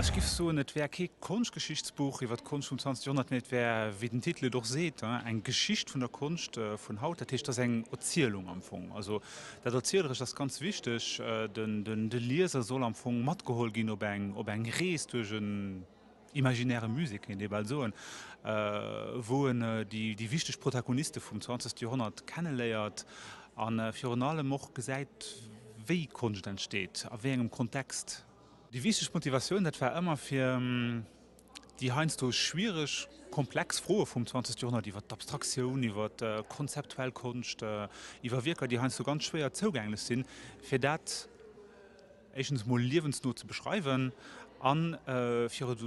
Ech giff soen, et wär kee Konschtgeschichtsbuch iwwer d'Konscht vum 20 Joerhonnert, mee et wär, wéi den Titel et och seet, eng Geschicht vun der Konscht vun haut. Dat heescht, et ass eng Erzielung am Fong. Also dat Erzielerëscht ass ganz wichteg. De Lieser soll am Fong matgeholl ginn op eng Rees duerch e. imaginäre Musée kéint ee bal soen, wou en déi wichteg Protagoniste vum zwanzegste Joerhonnert kenneléiert a virun allem och gesäit, wéi Konscht entsteet, a wéi engem Kontext. Déi wichteg Motivatioun, dat war ëmmer, fir déi heiansdo schwiereg, komplex Froe vum zwanzegste Joerhonnert iwwer d'Abstraktioun, iwwer konzeptuell Konscht, iwwer Wierker, déi heiansdo ganz schwéier zougänglech sinn, fir dat, éischtens mol liewensno ze beschreiwen a fir et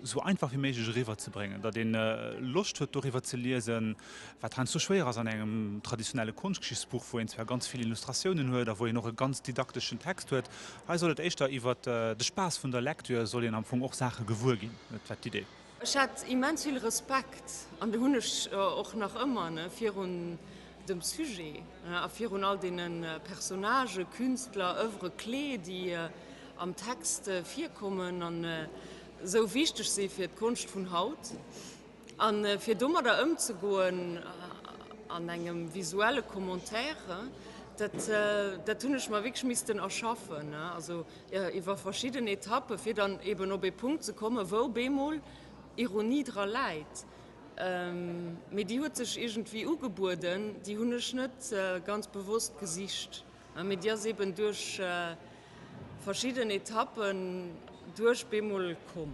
esou einfach wéi méiglech eriwwer ze bréngen, datt ee Loscht huet doriwwer ze liesen, wat heiansdo schwéier ass an engem traditionelle Konschtgeschichtsbuch, wou een zwar ganz vill Illustratiounen huet a wou een och e ganz didakteschen Text huet. Hei soll et éischter iwwer de Spaass vun der Lektür, soll een am Fong och Saache gewuer ginn, dat war d'Idee. Ech hat immens vill Respekt, an dee hunn ech och nach ëmmer, virun dem Sujet a virun all deene Personnagë, Künstler, Oeuvres clés, déi am Text virkommen an esou wichteg si fir d'Konscht vun haut. A fir domadder ëmzegoen an engem visuelle Commentaire, dat hunn ech mer wierklech missten erschaffen. iwwer verschidden Etappe fir dann eben op ee Punkt ze kommen, wou bemol Ironie dra läit, mee déi huet sech iergendwéi ugebueden, déi hunn ech net ganz bewosst gesicht, mee déi ass eben duerch verschidden Etappen duerch bemol komm.